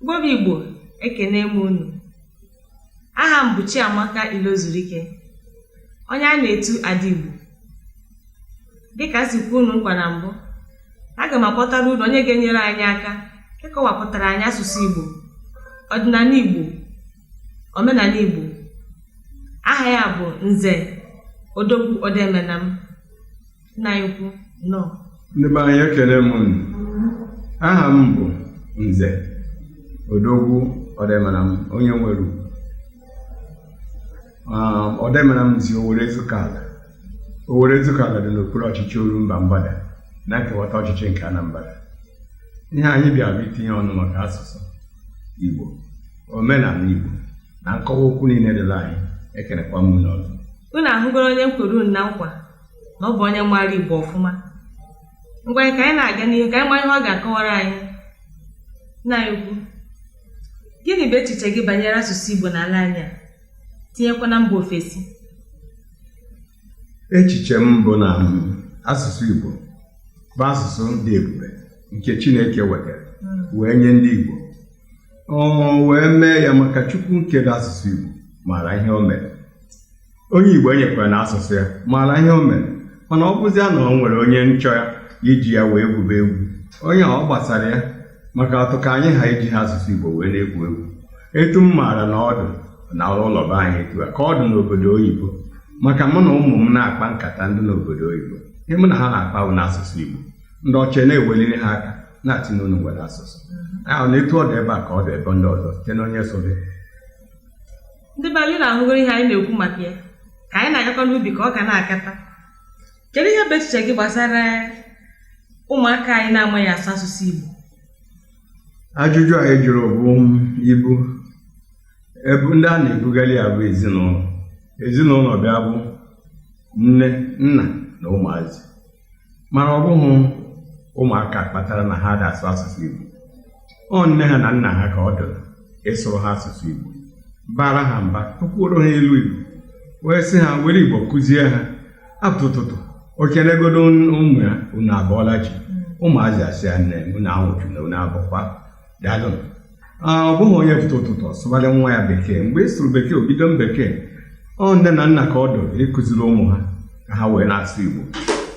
Igbo bụ Igbo ekene m unu aha m bụ Chiamaka Ilozurike onye a na-etu Ada Igbo dịka m si kwe unu nkwa na mbụ aga m akpọtara unu onye ga-enyere anyị aka ịkọwapụtara anyị asụsụ Igbo ọdịnala Igbo omenala Igbo aha ya bụ Nze Odogwu Odemenam nna anyị ukwu nnọọ ndị be anyị ekene m unu aha m bụ nze odogwu odemenam onye nwere ugwu Ah, odemenam si owere ezukala owere ezukala dị n'okpuru ọchịchị orumba mgbada na nkewata ọchịchị nke anambra ihe anyị bịara itinye ọnụ maka asụsụ igbo omenala igbo na nkọwa okwu niile dịla anyị ekenekwa m unu ọzọ unu ahụgoro onye m kwere unu na nkwa na ọ bụ onye maara Igbo ọfụma ngwanụ ka anyị na-aga n'ihu ka anyị mara ihe ọ ga-akọwara anyị nna anyị ukwu gịnị bụ echiche gị banyere asụsụ Igbo n'ala anyị a tinyekwa na mba ofesi echiche m bụ na asụsụ Igbo bụ asụsụ dị ebube nke Chineke wetara hmm. wee nye ndị Igbo o wee mee ya maka Chukwu nkere asụsụ Igbo maara ihe o mere onye Igbo enyekwara na asụsụ ya maara ihe o mere mana ọ bụzia na o nwere onye nchọ ya iji ya wee gwube egwu onye ọ gbasara ya maka atụ ka anyị ha iji ha asụsụ Igbo wee na-egwu egwu etu m maara na ọ dụ n'ụlọ be anyị etu a ka ọ dị n'obodo oyibo maka mụ na ụmụ m na-akpa nkata ndị n'obodo oyibo ihe mụ na ha na-akpa bụ n'asụsụ Igbo ndị ọcha na-eweliri ha aka na-asị na unu nwere asụsụ ahụ na etu ọ dị ebe a ka ọ dị ebe ndị ọzọ site na onye so ndị be anyị unu ahụgoro ihe anyị na-ekwu maka ya ka anyị na-agakọ n'ubi ka ọ ga na-akata kedu ihe bụ echiche gị gbasara ụmụaka anyị na-amaghị asụ asụsụ Igbo ajụjụ anyị jụrụ bụ ibu ebu ndị a na-ebugali ya bụ ezinụlọ ezinụlọ bịa bụ nne nna na ụmụazị mana ọ bụghị ụmụaka kpatara na ha adị asụ asụsụ Igbo ọ nne ha na nna ha ka ọ dịrị ịsụrụ ha asụsụ Igbo bara ha mba tụkwuoro ha ilu Igbo wee sị ha were Igbo kụzie ha a pụta ụtụtụ o kenegodo ụmụ ya unu abọọla chi ụmụazị asị ya nne unu anwụchuna unu abọkwa daalụ Ah, ọ bụghị onye pụta ụtụtụ ọ sụbalị nwa ya bekee mgbe ị sụrụ bekee o bido m bekee ọ nne na nna ka ọ dụ ịkụziri ụmụ ha ka ha wee na-asụ igbo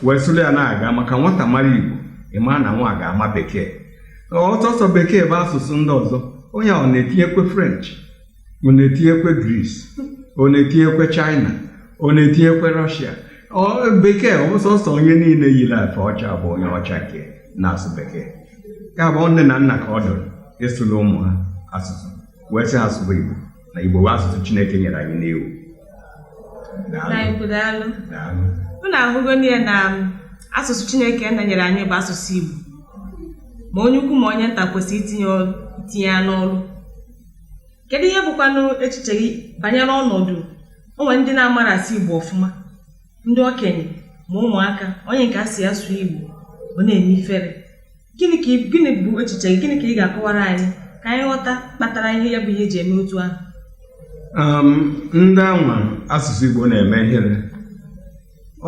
wee sụrụ ya na-aga maka nwata mara igbo ị mara na nwa ga-ama bekee ọsọ ọsọ bekee bụ asụsụ ndị ọzọ onye ahụ na-etinyekwe french ọ na-etinyekwe Greece ọ na-etinyekwe China ọ na-etinyekwe Russia bekee sọsọ onye niile yiri efe ọcha bụ onye ọcha nke na-asụ bekee ya bụ nne na nna ka ọ dụrụ ịsụrụ ụmụ ha asụsụ wee sị ha sụba Igbo na Igbo bụ asụsụ Chineke nyere anyị n'iwu unu ahụgo n'ihe na asụsụ Chineke Nna nyere anyị bụ asụsụ Igbo ma onye ukwu ma onye nta kwesịrị itinye ya n'ọrụ kedu ihe bụkwanụ echiche gị banyere ọnọdụ o nwee ndị na-amara asụ Igbo ọfụma ndị okenye ma ụmụaka onye nke a sị ya sụọ Igbo ọ na-eme ifere gịnị ka ị- gịnị bụ echiche gị gịnị ka ị ga-akọwara anyị ka anyị ghọta kpatara ihe ya bụ ihe eji eme otu ahụ Um, ndị anwa asụsụ Igbo na-eme ihere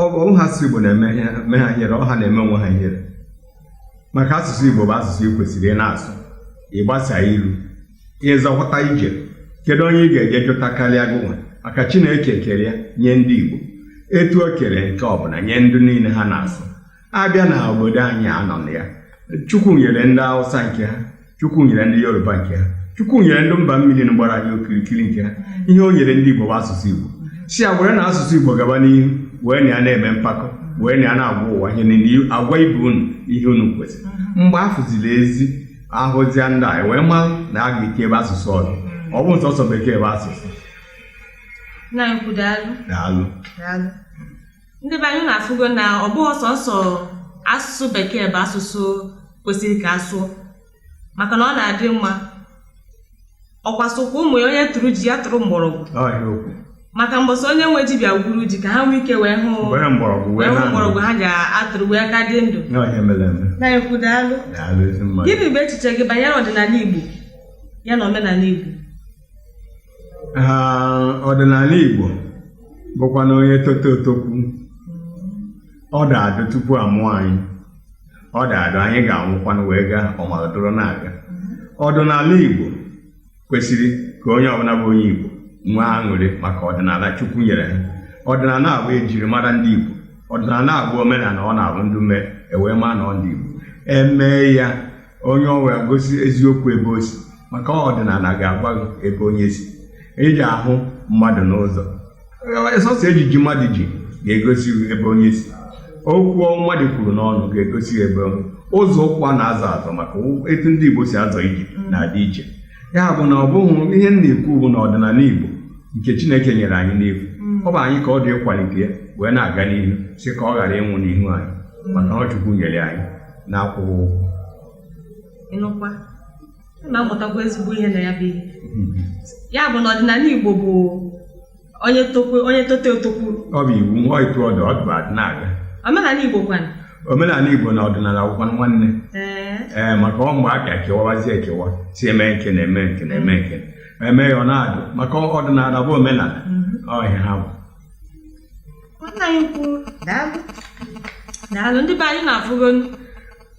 ọ bụ onwe ha ịsụ Igbo na-eme ihe- eme ha ihere ọ ha na-eme onwe ha ihere maka asụsụ Igbo bụ asụsụ ị kwesịrị ị na-asụ ịgbasa ilu ịzọpụta ije kedu onye ị ga-eje jụta karịa gị nwa maka Chineke kere ya nye ndị Igbo etu o kere nke ọbụla nye ndị niile ha na-asụ abịa na obodo anyị a nọ na ya chukwu nyere ndị awụsa nke ha chukwu nyere ndị yoruba nke ha chukwu nyere ndị mba mmiri gbara anyị okirikiri nke ha ihe o nyere ndị igbo bụ asụsụ igbo sị ya were na asụsụ igbo gaba n'ihu wee na ya na-eme mpako wee na ya na-agwa ụwa ihe niile agwa ibe unu ihe unu kwesịrị mgbe afụziri ezi ahụzia ndị a wee ma na a ga-eke ebe asụsụ ọzọ ọ bụ sọsọ bekee bụ asụsụ nna ukwu daalụ daalụ daalụ ndị be anyị unu afụgo na ọ bụghị sọsọ asụsụ bekee bụ asụsụ kwesịrị ka asụọ maka na ọ na-adị mma ọkwa sịkwa ụmụ ya onye tụrụ ji ya tụrụ mgbọrọgwụ maka mbọsị onye nwe ji bịa gwuru ji ka ha nwee ike wee hụ wee hụ mgbọrọgwụ ha ga-atụrụ wee ka dị ndụ nna ukwu daalụ gịnị bụ echiche gị banyere ọdịnala Igbo ya na omenala Igbo ha ọdịnala Igbo bụkwa na onye tota o tokwu ọ dụ adụ tupu amụọ anyị ọ dụ adụ anyị ga-anwụkwanụ wee gaa ọ mara dụrụ na-aga ọdịnala Igbo kwesịrị ka onye ọbụla bụ onye Igbo nwee aṅụrị maka ọdịnala Chukwu nyere ha ọdịnala a bụ ejiri mara ndị Igbo ọdịnala a bụ omenala ọ na-abụ ndị mee ewee maa na ọ ndị Igbo emee ya onye ọ wee gosi eziokwu ebe o si maka ọdịnala ga-agwa gị ebe onye si ị ja-ahụ mmadụ n'ụzọ sọsọ ejiji mmadụ ji ga-egosi gị ebe onye si okwu mmadụ kwuru n'ọnụ ga-egosi gị ebe onye ụzọ ụkwụ a na-azọ azọ maka etu ndị Igbo si azọ ije na-adị iche ya bụ na ọ bụghị ihe m na-ekwu bụ na ọdịnala Igbo nke Chineke nyere anyị n'efu ọ bụ anyị ka ọ dị ịkwalite ya wee na-aga n'ihu sị ka ọ ghara ịnwụ n'ihu anyị maka ọ Chukwu nyere anyị na-akwụghị ụgwọ ị nụkwa a na-amụtakwa ezigbo ihe na ya bụ ihe ya bụ na ọdịnala Igbo bụ onye tokwe onye tote o tokwu ọ bụ iwu na etu ọ dị ọ dịbụ adị na-aga omenala Igbo kwanụ omenala Igbo na ọdịnala bụkwanụ nwanne ee ee maka ọ mgbe a ka kewawazie ekewa sị eme nke na-eme nke na-eme nke eme ya ọ na-adụ maka ọdịnala bụ omenala ọ ihe ha bụ nna anyị ukwu daalụ daalụ ndị be anyị unu afụgonu.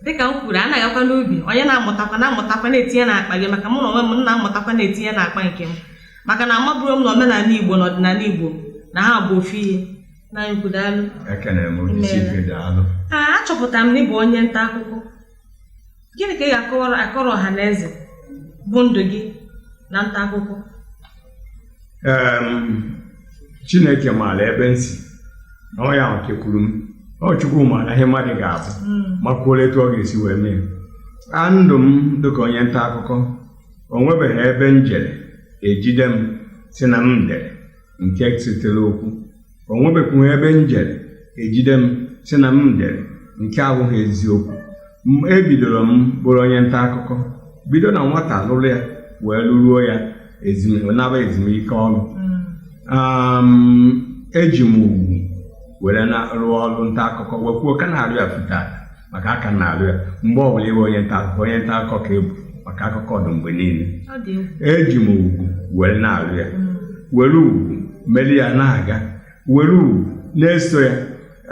dịka m kwuru anaghị akwa n'ubi onye na-amụtakwa na-amụtakwa na-etinye n'akpa gị maka mụ na onwe m m na-amụtakwa na-etinye n'akpa nke m maka na amaburu m na omenala igbo na ọdịnala igbo na ha bụ ofu ihe nna anyị ukwu daalụ ekenere m onye isi ife dị alụ Ee, achọpụtara m na ị bụ onye nta akụkọ gịnị ka ị ga-akọrọ akọrọ ọha na eze bụ ndụ gị na nta akụkọ chineke maara ebe m si na ọ ya kekwuru m ọ chukwu maara ihe mmadụ ga-abụ hmm. makwuola etu ọ ga-esi wee mee a ndụ m dịka onye nta akụkọ o nwebeghị ebe m jere e jide m sị na m dere nke setere okwu o nwebekwughị ebe m jere e jide m sị na m dere nke abụghị eziokwu ebidoro m bụrụ onye nta akụkọ bido na nwata lụrụ ya wee lụruo ya naba ezumike ọrụ eji m ugwu were na-arụ ọrụ nta akụkọ wekwuo ka na-arụ ya maka aka m na-alụ ya mgbe ọ bụla ị bụ onye nta akụkọ onye nta akụkọ ka ị bụ maka akụkọ dị mgbe niile ọ dị egwu eji m ugwu were na-alụ ya were ugwu mere ya na-aga were ugwu na-eso ya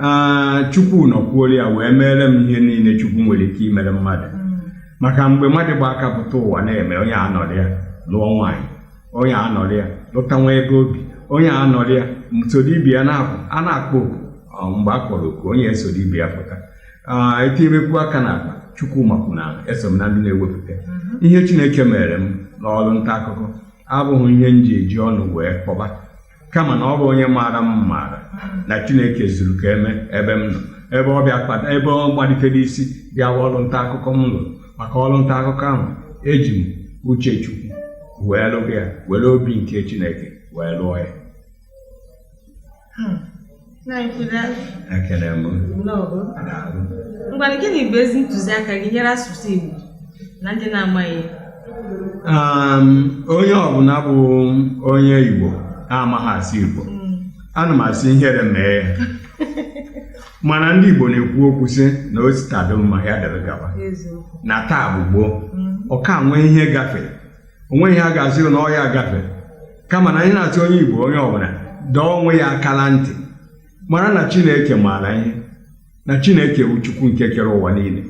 Aa, chukwu nọkwuoro ya wee meere m ihe niile chukwu nwere ike imere mmadụ maka mgbe mmadụ gba aka pụta ụwa na-eme onye anọrị ya lụọ nwaanyị onye anọrị ya lụta nwa ebe o bi onye anọrị ya soro ibe ya na-apụ a na-akpọ oku mgbe a kpọrọ oku onye esoro ibe ya pụta etinyebekwu aka na akpa Chukwu makwuru na eso m na ndị na-ewepụta ihe Chineke meere m n'ọrụ nta akụkọ abụghị ihe m ji eji ọnụ wee kpọba kama na ọ bụ onye maara m maara na Chineke zuru ka eme ebe m nọ ebe ọ bịa kpata ebe ọ malitere isi bịa ọrụ nta akụkọ m lụrụ maka ọrụ nta akụkọ ahụ eji m uche Chukwu wee lụọ ya were obi nke Chineke wee lụọ ya Hmm. Ekele m. Ngwanụ gịnị bụ ezi ntụziaka gị nyere asụsụ Igbo na ndị na-amaghị? Um, onye ọbụla bụ onye Igbo amaghị asụ Igbo hmm. ana m asị ihere mee ya mana ndị Igbo na-ekwu okwu sị na o si taa dị mma ya dịrị gaba na taa bụ gboo hmm. ọ ka nwee ihe gafere o nweghị ihe a ga-asị na ọ ya agafe kama na anyị na-asị onye Igbo onye ọbụla dọọ onwe ya aka na ntị mara na Chineke maara ihe na Chineke bụ Chukwu nke kere ụwa niile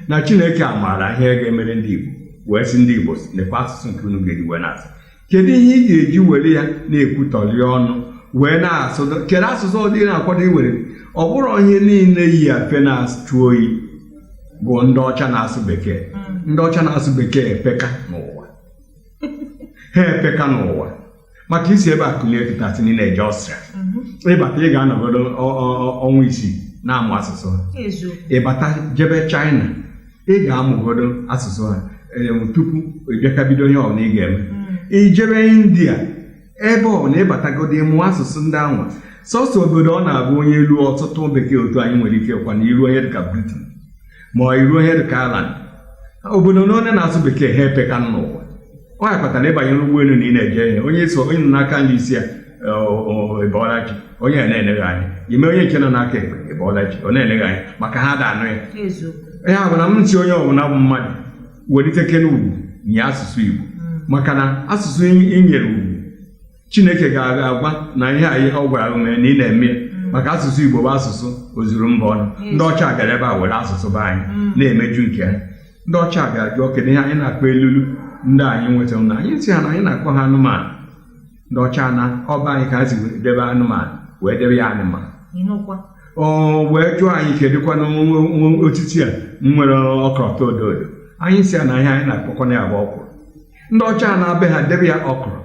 na Chineke amaara ihe ga-emere ndị Igbo wee sị ndị Igbo nekwa asụsụ nke unu ga-eji wee na-asụ kedu ihe ị ga-eji were ya na-ekwutọli ọnụ wee na-asụ kedu asụsụ ọdọ ị na-akwado iwere ọ bụrọ ihe niile yi afe na-achụ oyi bụ ndị ọcha na-asụ bekee hmm. ndị ọcha na-asụ bekee epeka n'ụwa ha epeka n'ụwa maka i si ebe a kulie kịta sị na ị na-eje Austria hmm. ị bata ị ga-anọgodo ọnwa isii na-amụ asụsụ ha ị bata jebe China ị ga-amụgodo asụsụ ha tupu ị bịaka bido ihe ọbụla ị ga-eme hmm. i jebe India ebe ọ na ị batagodo ị mụọ asụsụ ndị ahụ sọsọ obodo ọ na-abụ onye luo ọ sụtụ bekee otu anyị nwere ike bụkwanụ i ruo ihe dịka Britain ma ọ i ruo ihe dịka Ireland obodo niile na-asụ bekee ha epeka n'ụwa ọ ya kpatara ị banye n'ụgbọelu na ị na-eje ije onye so onye nọ n'aka nri ị sị ya ị bọọla chi onye a na-ele gị anya i mee onye nke nọ n'aka ekpe ị bọọla chi ọ na-ele gị anya maka ha ada anụ ya eziokwu ya bụ na m nsi onye ọbụla bụ mmadụ welitekene ugwu nye asụsụ Igbo maka na asụsụ i nyere ugwu Chineke ga-agwa na ihe anyị ọ gwara gị mee na ị na-eme maka asụsụ Igbo bụ asụsụ ozuru mba ọnụ ndị ọcha abịara ebe a were asụsụ be anyị mm. na-emeju nke ha ndị ọcha abịa jụọ kedu ihe anyị na-akpọ elulu ndị anyị nwetara na anyị sị ha na anyị na-akpọ ha anụmanụ ndị ọcha na ọ be anyị ka ha si wee debe anụmanụ wee debe ya animal ị nụkwa ọ wee jụọ anyị kedụkwa na nwa- nwa- nwa otiti a nwere ọkọlọtọ odo odo anyị sị ya na ihe anyị na-akpọkwana ya bụ ọkwụrụ ndị ọcha anaa be ha debe ya okro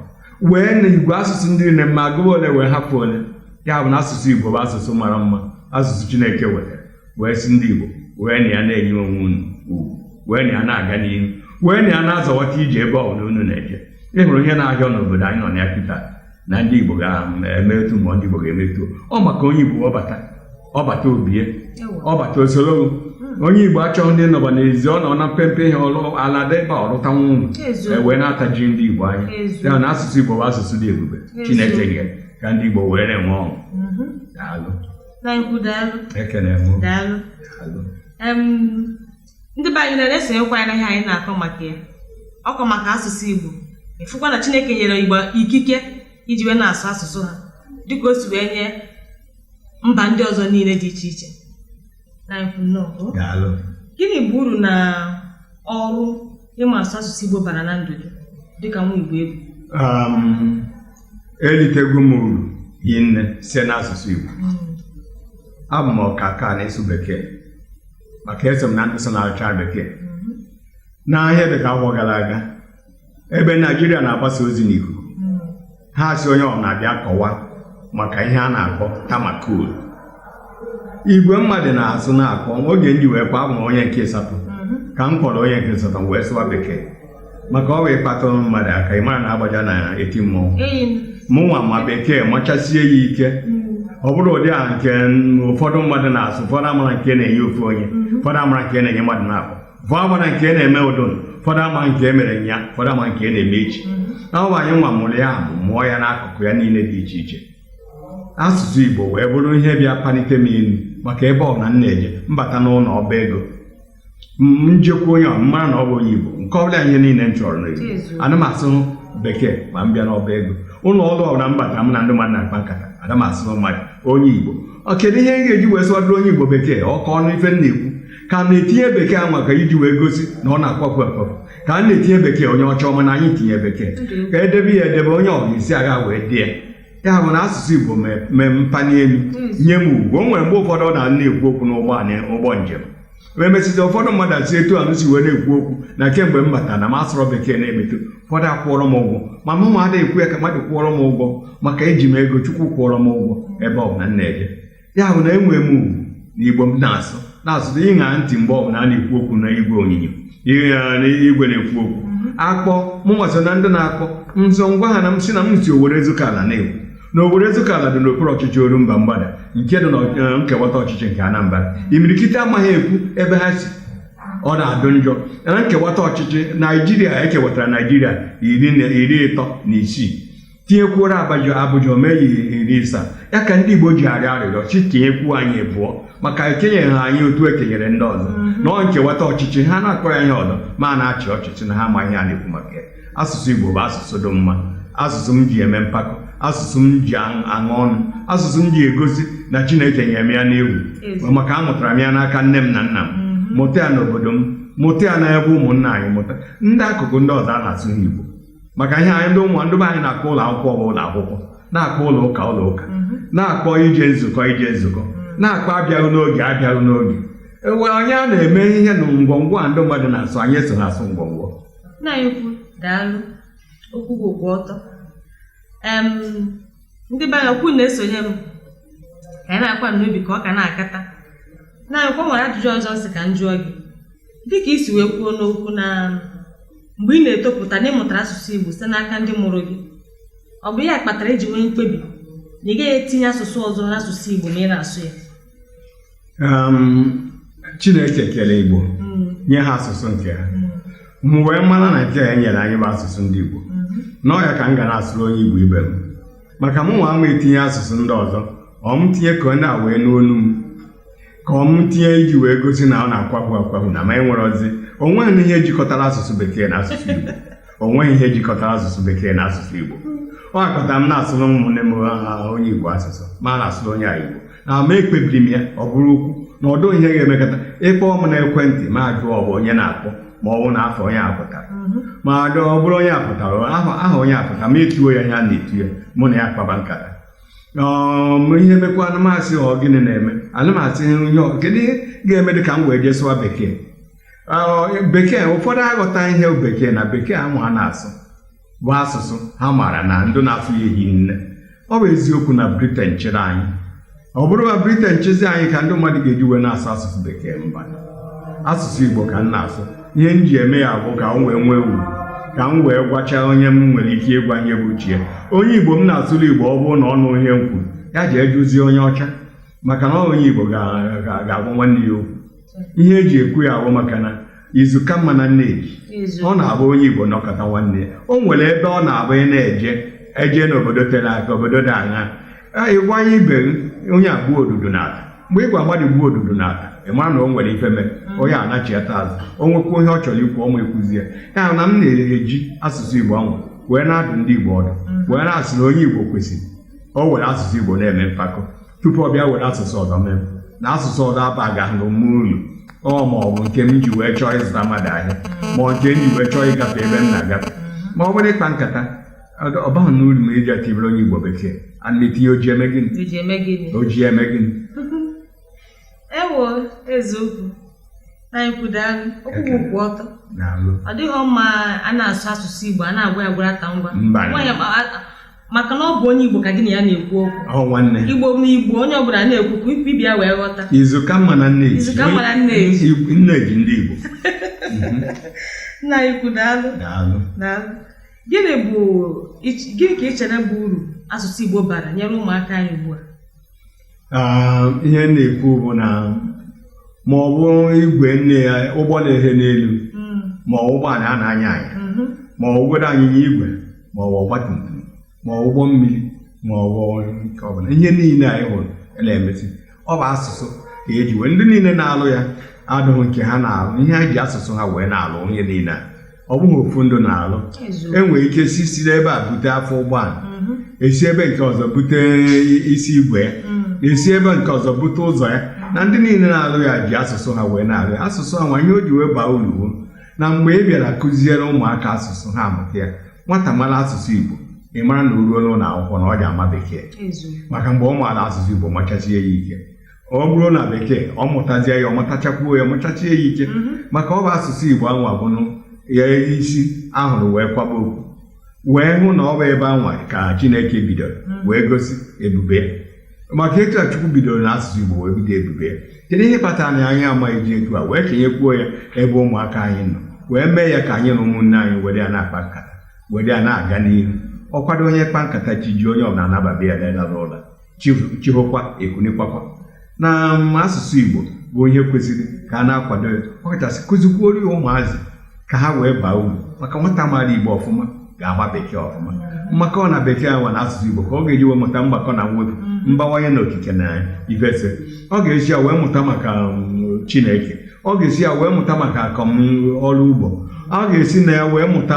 wee na igwe asụsụ ndị nne mma agụba ole wee hapụ ole ya bụ na asụsụ Igbo bụ asụsụ mara mma asụsụ Chineke wetara wee sị ndị Igbo werenụ ya na-enye onwe unu ugwu werenụ ya na-aga n'ihu werenụ ya na-azọwata ije ebe ọ bụla unu na-eje ị hụrụ ihe na-ahịa n'obodo anyị nọ na ya kịta na ndị Igbo ga-eme etu ma ndị Igbo ga-eme etu ọ maka onye Igbo ọ bata ọ bata o bie ọ bata o soro hmm. onye Igbo achọghị ịnọba n'ezi ọ nọ na mpempe ihe ọlụ ala dị ebe ọ lụta nwa unu e wee na-ataji ndị Igbo anya ya na asụsụ Igbo bụ asụsụ dị ebube Chineke nye ka ndị Igbo were na-enwe ọṅụ mm-hmm. daalụ Nwankwu daalụ ekene m daalụ Daalụ. Em, ndị be anyị na-esonyekwa anyị n'ihe anyị na-akọ maka ya ọkọ maka asụsụ Igbo ị fụkwa na Chineke nyere Igbo ikike iji wee na-asụ asụsụ ha dịka o si wee nye mba ndị ọzọ niile dị iche iche Nwankwu nnọọ. daalụ Gịnị bụ uru na ọrụ ịma asụ asụsụ Igbo bara na ndụ gị dịka nwa Igbo ị bụ um, elitego m uru hi nne site n'asụsụ Igbo hmm. abụ m ọkaka n'ịsụ bekee maka eso m na ndị so na-agụcha bekee hmm. n'ihe dịka afọ gara aga ebe Naijiria na-agbasa ozi n'ikuku ha asị onye ọbụna bịa kọwaa maka ihe a na-akpọ tamakul igwe mmadụ na-asụ na-akpọ oge ndị wee kwa abụ m onye nke ịsatọ ka m kpọrọ onye nke ịsatọ wee sụwa bekee maka o wee kpatụ mmadụ aka ị mara na agbaja na-eti mmọnwụ mụnwa ma bekee machasie ya ike ọ bụrọ ụdị a nke ụfọdụ mmadụ na-asụ ụfọdụ amara nke na-enye ofu onye ụfọdụ amara nke na-enye mmadụ naabọ bụ amara nke na-eme ụdụn ụfọdụ ama nke mere nnyaa ụfọdụ ama nke na-eme echi na ọ bụ anyị nwa mụrụ ya bụ mụọ ya n'akụkụ ya niile dị iche iche asụsụ Igbo wee bụrụ ihe bịa palite m elu maka ebe ọbụna m na-eje m bata n'ụlọ ọba ego m jekwu onye m mara na ọ bụ onye Igbo nke ọbụla ihe niile m chọrọ n'Igbo ana m asụ bekee ma m bịa n'ọba ego ụlọ ọrụ ọbụla m bata m na ndị mmadụ na-akpa nkata ana m asụ mmadụ onye Igbo ọ kedu ihe m ga-eji wee sụwadoro onye Igbo bekee ọ ka ọ nụ ife m na-ekwu ka m na-etinye bekee anwa ka iji wee gosi na ọ na-akwafu akwafu ka m na-etinye bekee onye ọcha ọma na anyị tinye bekee ka edebe ya edebe onye ọbụla isi agha wee dị ya ya bụ na asụsụ igbo mee- mee m pani elu nye m ugwu o nwere mgbe ụfọdụ ọ na a na-ekwu okwu n'ụgbọ anyị- ụgbọ njem wee mesịta ụfọdụ mmadụ asị etu a m si wee na-ekwu okwu na kemgbe m bata na m asụrọ bekee na-emeto ụfọdụ akwụọrọ m ụgwọ ma mụnwa adịghị ekwu ya ka mmadụ kwụọrọ m ụgwọ maka eji m ego chukwu kwụọrọ m ụgwọ ebe ọ bụla m na-eje ya bụ na enwere m ugwu na igbo m na-asụ na-asụ na ịṅa ntị mgbe ọbụla a na-ekwu okwu na igwe onyinyo igwe na-ekwu okwu akpọ mụnwa so na ndị na-akpọ nzọ m gwa ha na m si na m si owere ezukala na-ekwu na owere ezukala dị n'okpuru ọchịchị orumba mgbada nke dị na eh, nkewata ọchịchị nke anambra imirikiti amaghị ekwu ebe ha si ọ na-adụ njọ na nkewata ọchịchị naijiria ekewatara naijiria iri na- iri ịtọ na isii tinyekwuoro abuja abuja o mee ya iri ịsa ya ka ndị igbo ji arịọ arịrịọ sị tinyekwuo anyị abụọ maka ekenyeghị ha anyị otu ekenyere ndị ọzọ na ọ nkewata ọchịchị ha na-akpọ ya ihe ọzọ ma a na-achị ọchịchị na ha ma ihe a na-ekwu maka ya asụsụ igbo bụ asụsụ dị mma asụsụ m ji eme mpako asụsụ m ji aṅụ aṅụ ọnụ asụsụ m ji egosi na chineke nyere m ya n'efu Ezi. maka amụtara m ya n'aka nne m na nna m mụta ya n'obodo m mụta ya n'ebe ụmụnna anyị mụta ndị akụkụ ndị ọzọ a na-asụ ha igbo maka ihe anyị ndị ụmụ ndị be anyị na-akpọ ụlọ akwụkwọ bụ ụlọ akwụkwọ na-akpọ ụlọ ụka ụlọ ụka na-akpọ ije nzukọ ije nzukọ na-akpọ abịaghị n'oge abịaghị n'oge ewe onye a na-eme ihe na ngwongwo a ndị mmadụ na-asụ anyị eso na-asụ ngwongwo nna anyị ukwu daalụ okwu gị kwụ ọtọ Em, ndị be anyị okwu na-esonye m ka anyị na-akwa n'obi ka ọ ka na-akata nna anyị ukwu o nwere ajụjụ ọzọ m sị ka m jụọ gị dịka i si wee kwuo n'okwu na mgbe ị na-etopụta na ị mụtara asụsụ Igbo site n'aka ndị mụrụ gị ọ bụ ya kpatara i ji nwee mkpebi na ị gaghị etinye asụsụ ọzọ n'asụsụ Igbo ma ị na-asụ ya Chineke kere Igbo hmm. nye ha asụsụ nke ha hmm. mụ wee mara na nke ya e nyere anyị bụ asụsụ ndị Igbo na ọ ya ka m ga na-asụrụ onye Igbo ibe m maka mụ nwa ama etinye asụsụ ndị ọzọ ọ m tinye ka onye a wee n'olu m ka ọ m tinye iji wee gosi na ọ na-akwahụ akwahụ na ma e nwere ozi o nweghị ihe jikọtara asụsụ bekee na asụsụ Igbo o nweghị ihe jikọtara asụsụ bekee na asụsụ igbo ọ ya kọtara m na-asụrụ ụmụnne m ha onye igbo asụsụ ma na-asụrụ onye a igbo na ma ekpebiri m ya ọ bụrụ okwu na ọ dịghị ihe ga-emekọta ị kpọọ m na ekwentị m ajụọ ọ bụ onye na-akpọ ma ọ bụ na afọ onye a pụtara mmadụ ọ bụrụ onye a pụtara aha aha onye a pụtara m etuo ya ihe a na-etu ya mụ na ya kpaba nkata ọm ihe mekwa a na m asị ọ gịnị na-eme a na m asị ihe ọ- kedu ihe ga-eme dị ka m wee jee sụwa bekee bekee ụfọdụ aghọta ihe bekee na bekee anwa a na-asụ bụ asụsụ ha maara na ndị na-asụ ya ehi nne ọ bụ eziokwu na briten chịrị anyị ọ bụrụ na briten chịzi anyị ka ndị mmadụ ga-eji wee na-asụ asụsụ bekee mba asụsụ igbo ka m na-asụ ihe m ji eme ya bụ ka m wee nwee uru ka m wee gwachaa onye m nwere ike ịgwa ihe bụ chie onye igbo m na-asụrụ igbo ọ bụrụ na ọ nụghị ihe m kwuru ya jee jụzie onye ọcha maka na onye igbo ga-agwa nwanne ya okwu ihe e ji ekwu ya bụ maka na izu ka mma na nneji ọ na-abụ onye igbo nọkọta nwanne ya o nwere ebe ọ na-abụ ị na-eje eje n'obodo tere aka obodo dị anya ị gwa onye ibe gị, onye a gbuo odudu nata mgbe ị gwa mmadụ gbuo odudu nata ị mara na o nwere ife mere onye a nachiata azụ o nwekwa ihe ọ chọrọ ikwu ọ ma ekwuzie ya na m na-eji asụsụ igbo ahụ wee na-adụ ndị igbo ọdụ wee na-asị na onye igbo kwesịrị o were asụsụ igbo na-eme mpako tupu ọ bịa were asụsụ ọzọ mee na asụsụ ọzọ abaghị nnọọ mụ uru ma ọ bụ nke m ji wee chọọ ịzụta mmadụ ahịa ma ọ nke m ji wee chọọ ịgafe ebe m na-agafe ma ọ bụrụ ịkpa nkata ọ- ọ baghị m uru ma e ji atibere onye igbo bekee a na-etinye oji eme gịnị Iji eme gịnị? o ji eme gịnị Ewo eziokwu nna anyị ukwu daalụ okwu bụ kwụ ọtọ daalụ ọ dịghị mma a na-asụ asụsụ Igbo a na-agwa ya gwara ata ngwa Mba. Nwaanyị akpa- a- maka na ọ bụ onye Igbo ka gị na ya na-ekwu okwu ahụ nwanne Igbo na Igbo onye ọbụla na-ekwu ka ibe ya wee ghọta izu ka mma na nne ji Izu ka mma na nne ji. Igbo- nne ji ndị Igbo nna anyị ukwu daalụ daalụ daalụ gịnị bụ ich- gịnị ka ị chere bụ uru asụsụ Igbo bara nyere ụmụaka anyị ugbu a Ah, ihe m na-ekwu bụ na ma ọ bụ igwe nne ya ụgbọ na-ehe n'elu Mm, ma ọ bụ ụgbọala a na-anya anya mhm, ma ọ bụgodị anyịnya igwe ma ọ bụ ọgbatumtum ma ọ bụ ụgbọ mmiri ma ọ bụ nke ọbụla ihe niile anyị hụrụ na-emesi ọ bụ asụsụ ka eji wee ndị niile na-alụ ya adụghị nke ha na-alụ ihe ha ji asụsụ ha wee na-alụ ihe niile a ọ bụghị ofu ndị na-alụ Eziokwu. enwere ike si si n'ebe a bute afọ ụgbọala Mhm. esi ebe nke ọzọ bute isi igwe ya Mm. esi ebe nke ọzọ bute ụzọ ya na ndị niile na-alụ ya ji asụsụ ha wee na-alụ ya asụsụ anwa ihe o ji wee baa uru wụ na mgbe ị bịara kụziere ụmụaka asụsụ ha amụta ya nwata mara asụsụ igbo ị mara na o ruo n'ụlọ akwụkwọ na ọ ja-ama bekee Eziokwu. maka mgbe ọ maara asụsụ igbo machasie ya ike ọ bụrụ na bekee ọ mụtazie ya ọ mụtachakwuo ya mụchachie ya ike mhm. maka ọ bụ asụsụ Igbo anwa bụnụ ya isi a hụrụ wee kwaba okpu wee hụ na ọ bụ ebe anwa ka Chineke bidoro mhm. wee gosi ebube ya maka etu a Chukwu bidoro na asụsụ Igbo wee bido ebube ya kedu ihe kpatara na anyị amaghị eji etu a wee kenyekwuo ya ebe ụmụaka anyị nọ wee mee ya ka anyị na ụmụnne anyị were ya na-akpa nkata were ya na-aga n'ihu ọ kwado onye kpaa nkata chi jie onye ọbụla anaba be ya n'ụlọ chi hokwa ekunikwakwa na um, asụsụ Igbo bụ ihe kwesịrị ka a na-akwado ya ọ kachasị kụzikwuoro ya ụmụazị ka ha wee baa uru maka nwata maara Igbo ọfụma ga-ama bekee ọfụma maka ọ na bekee nwa na asụsụ Igbo ka ọ ga-eji wee mụta mgbakọ na mwepụ mm. mbawanye na okike na ifese ọ ga-esi ya wee mụta maka um, Chineke ọ ga-esi ya wee mụta maka akọm ọrụ ugbo ọ ga-esi na ya wee mụta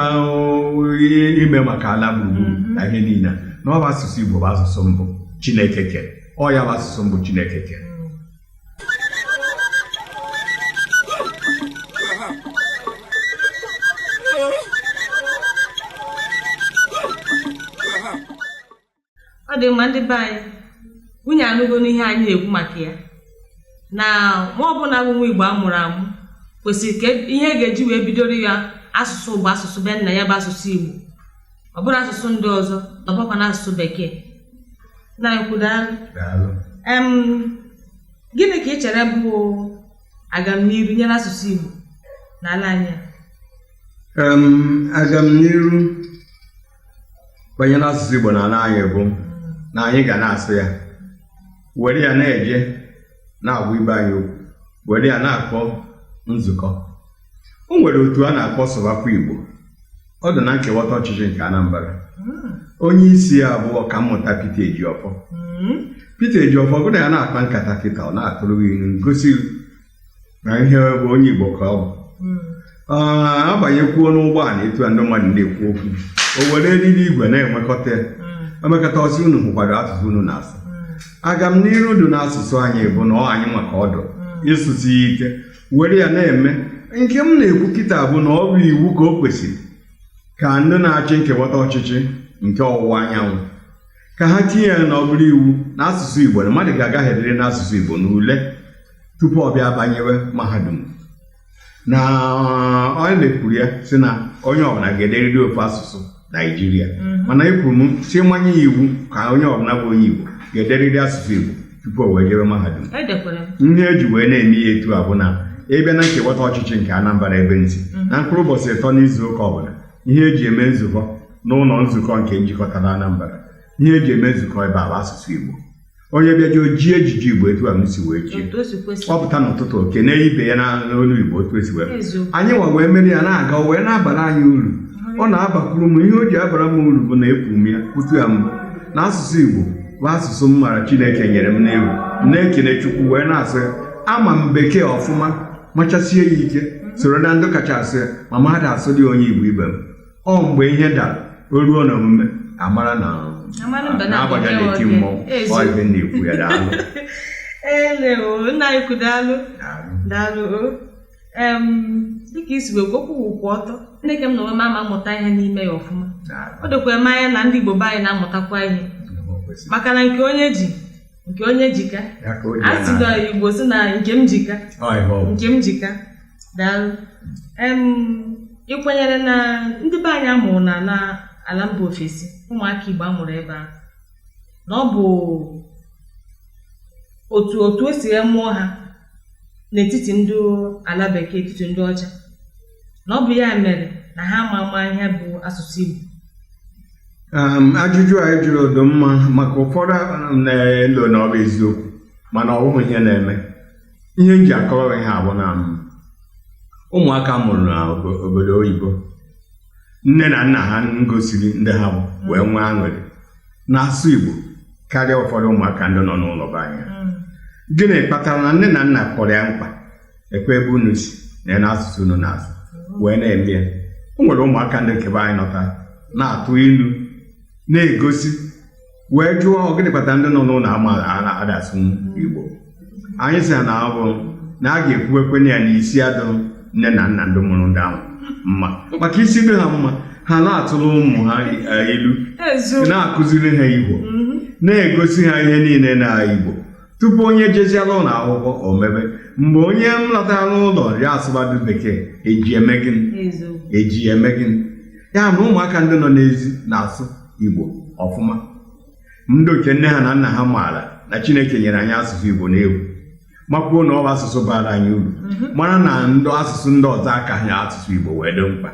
ihe ime maka ala gburugburu Mhm. na ihe niile na ọ bụ asụsụ Igbo bụ asụsụ mbụ Chineke kere ọ ya bụ asụsụ mbụ Chineke kere ọ dị mma ndị be anyị unu anụgonụ ihe anyị na-ekwu maka ya na nwa ọ bụla bụ nwa igbo a mụrụ amụ kwesịrị ka e, ihe a ga-eji wee bidoro ya asụsụ bụ asụsụ be nna ya bụ asụsụ igbo ọ bụrọ asụsụ ndị ọzọ na ọbụkwa na asụsụ bekee nna ukwu daalụ gịnị ka ị chere bụ agamniru banyere asụsụ igbo n'ala anyị agamniru banyere asụsụ Igbo na ala anyị bụ na anyị ga na-asụ ya were ya na-eje na-agwa ibe anyị okwu were ya na-akpọ nzukọ o nwere otu a na-akpọ sụbakwa Igbo ọ dị na nkewata ọchịchị nke Anambra hmm. onye isi ya bụ ọkammụta Pita Ejiofor hmm. Pita Ejiofor gụ na ya na-akpa nkata kịta ọ na-atụrụ gị ilu gosi na ihe bụ onye Igbo ka ọ bụ mm. ah, abanyekwuo n'ụgbọala etu a ndị mmadụ na-ekwu okwu o were eriri igwe na-enwekọta ya mm. emekọta ọ sị unu hụkwara asụsụ unu na-asụ mm. agamniru dị n'asụsụ anyị bụ na ọ anyị ma ka ọ dị ịsụsi ya ike were ya na-eme nke m na-ekwu kịta bụ na ọ bụ iwu ka o kwesịrị ka ndị na-achị nkewata ọchịchị nke ọwụwa anyanwụ ka ha tinye ya na ọ bụrụ iwu na asụsụ Igbo na mmadụ ga-agaferịrị n'asụsụ Igbo n'ule tupu ọ bịa banyewe mahadum na onye na-ekwuru ya si na onye ọbụla ga-ederịrị ofu asụsụ naijiria mhm. mana ekwuru m sị manye ya iwu ka onye ọbụla bụ onye igbo ga-ederịrị asụsụ igbo tupu o wee jewe mahadum ihe e ji wee na-eme ya etu a bụ na ị bịa na nkewata ọchịchị nke anambra ebe m si mhm. na mkpụrụ ụbọchị ịtọ n'izu ụka ọbụla ihe eji eme nzukọ n'ụlọ nzukọ nke njikọtara anambra ihe eji eme nzukọ ebe a bụ asụsụ igbo onye bịaje o jie ejiji igbo etu a m si wee jie otu o si kwesi ọ pụta n'ụtụtụ o kenee ibe ya na- n'olu igbo otu esi wee eziokwu anyị nwa wee mere ya na-aga o wee na-abara anyị uru ọ na-abakwuru m ihe o ji abara m uru bụ na ekwu m ya kwutu ya mbụ na asụsụ igbo bụ asụsụ m mara chineke nyere m n'egwu m na-ekele chukwu wee na-asụ ya ama m bekee ọfụma machasie ya ike soro na ndị kacha asụ ya ma mụ ada asụdị ya onye igbo ibe m ọ mgbe ihe dara o ruo na omume a mara na na-agbaja na-eti mmọnwụ ọ ibe na-ekwu ya daalụ elewo nna anyị ukwu daalụ daalụ dịka i si wee kwuo okwu kwụ ọtọ Chineke m na onwe m ama amụta ihe n'ime ya ọfụma o dokwere m anya na ndị Igbo be anyị na-amụtakwa ihe maka na nke onye ji nke onye ji ka a sị na igbo sị na nke m ji ka nke m ji ka daalụ ị kwenyere na ndị be anyị a mụrụ na na ala mba ofesi ụmụaka igbo a mụrụ ebe a na ọ bụ otu otu o si mụọ ha n'etiti ndị ala bekee etiti ndị ọcha na ọ bụ ya mere na ha ma ama ihe bụ asụsụ Igbo um, ajụjụ a ị jụrụ dụ mma maka ụfọdụ um, na-elo na ọ bụ eziokwu mana ọ bụghị ihe na-eme ihe m ji akọwa ihe a bụ na um, ụmụaka a mụrụ n'obodo oyibo nne na nna ha ngosiri ndị ha bụ wee nwee aṅụrị na-asụ Igbo karịa ụfọdụ ụmụaka ndị nọ n'ụlọ be anyị hmm. gịnị kpatara na nne na nna kpọrọ ya mkpa ekwe ebe unu si na ya na asụsụ unu na-asụ wee na-eme ya o nwere ụmụaka ndị nke be anyị nọta na-atụ ilu na-egosi wee jụọ ọ gịnị kpatara ndị nọ n'ụlọ ama a na-ada asụ igbo anyị sị ya na ọ bụ na a ga-ekwuwekwenụ ya na isi adụ nne na nna ndị mụrụ ndị ahụ mma maka isi dị ha mma ha na-atụrụ ụmụ ha eh, ilu eziokwu na-akụziri ha igbo na-egosi ha ihe niile na igbo tupu onye jeziela ụlọ akwụkwọ o mebe mgbe onye m lọtara n'ụlọ ya asụbadụ bekee eji eme gịnị eji eme gịnị ya na ụmụaka ndị nọ n'ezi na-asụ igbo ọfụma ndị nke nne ha na nna ha maara na chineke nyere anyị asụsụ igbo n'efu makwuo na ọ bụ asụsụ bara anyị uru mhm. mara na ndị asụsụ ndị ọzọ akaha asụsụ igbo wee dị mkpa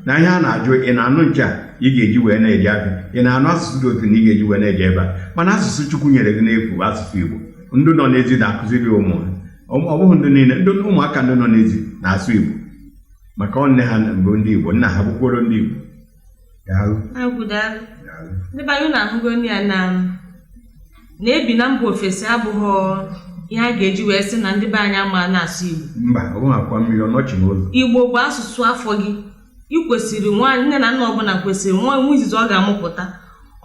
na ihe a na-ajụ ị na-anụ nke a ị ga-eji wee na-eji aka ị na-anụ asụsụ dị otu na ị ga-eji wee na-eje ebe a mana asụsụ Chukwu nyere gị n'efu bụ asụsụ Igbo ndị nọ n'ezi na-akụziri ụmụ ha Ọ- ọ bụghị ndị niile ndị ụmụaka ndị nọ n'ezi na-asụ Igbo maka ọ nne ha bụ ndị Igbo nna ha bụkworo ndị Igbo Daalụ, agwụ daalụ daalụ. ndị be anyị na-ahụgo nne ya na na ibi na mba ofesi abụghị ihe a ga-eji wee sị na ndị be anyị ama na-asụ Igbo mba ọ bụghị akwa mmiri ọnọchi n'ụzọ Igbo bụ asụsụ afọ gị ị kwesịrị nwaanyị nne na nna ọbụla kwesịrị nwa nwa izizi ọ ga-amụpụta